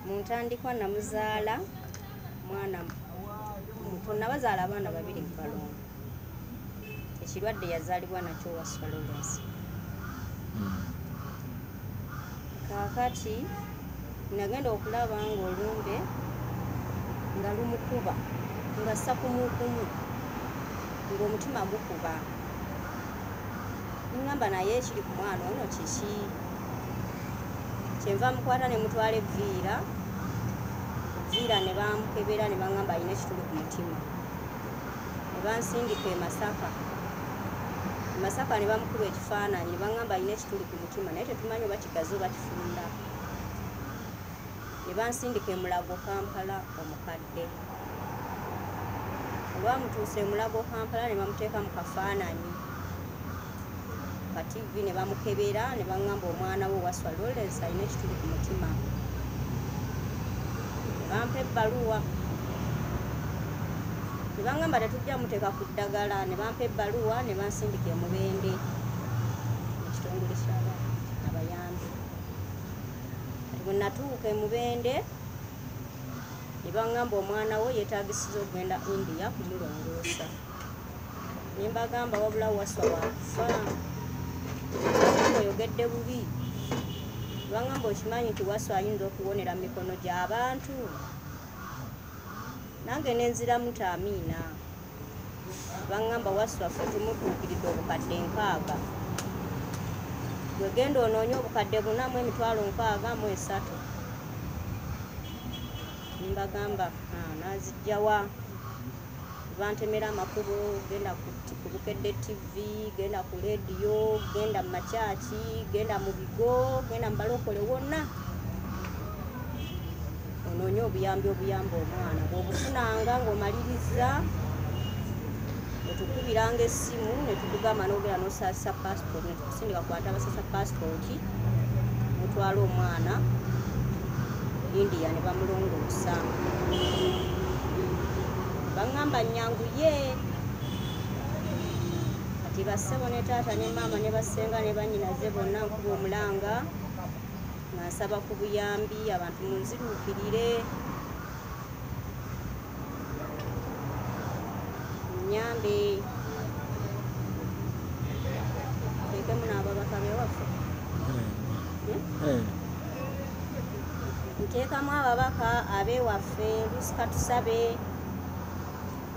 mu ntandikwa namuzaala mwana muto nabazaala abaana babiri mu balongo ekirwadde yazaalibwa nakyo waswalolensi hmm. kakati nagenda okulaba nga olumbe nga lumukuba nga sakumukumu ngaomutima gukuba ningamba naye ekiri ku mwana ono kiki kyenva mukwata ne mutwala evviira evviira ne bamukebera ne baŋamba alina ekituli ku mutima ne bansindika e masaka e masaka ne bamukuba ekifaananyi ne baŋamba alina ekituli ku mutima naye tetumanyi oba kigazi oba kifunda ne bansindika emulago kampala omukadde baamutuusa emulago kampala ne bamuteeka mu kafaananyi ka tivi ne bamukebera ne baŋŋamba omwana we waswa lawrence alina ekituli ku mutima bampa ebbaluwa ne baŋŋamba tetujja muteeka ku ddagala ne bampa ebbaluwa ne bansindika emubende ekitongole kyaba abayambi kati bwe natuuka emubende ne bangamba omwana wo yetagisiza okugenda india kumulongoosa ne mbagamba wabula waswa wakufa oyogedde bubi bangamba okimanyi nti waswa ayinza okuwonera mu mikono gy'abantu nange nenziramu taamiina bangamba waswafe tumutuukiridde obukadde nkaaga wegenda onoonye obukadde bunamu emitwalo nkaaga mu esatu mbagamba ah, nazijjawa bantemera amakubo genda ku bukedde tv genda ku lediyo genda mu makyaki genda mu bigo genda mu balokole wonna onoonye obuyambi obuyamba omwana bwobufunanga ngaomalirizza netukubiranga essimu netugugamba nogera nosasa passport netukusindika kwata abasasa passport mutwala omwana india ne bamulongoosa baŋŋamba nnyangu ye kati bassebo ne taata ne maama ne bassenga ne banyinaze bonna nkuba omulanga nga nsaba ku buyambi abantu munziruukirire nyambe tekemu n'ababaka bewaffe nteekamu ababaka abewaffe lusika tusabe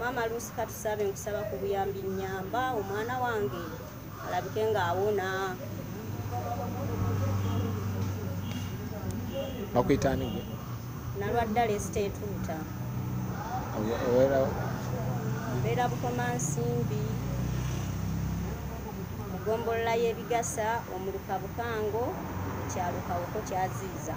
maama luusi katusabe nkusaba ku buyambi nyamba omwana wange alabike ng'awona bakuyitani gwe nalwadda lesita etuuta mbeera bukoma nsimbi mugombolola y'ebigasa omuluka bukango ekyalo kawoko kyaziiza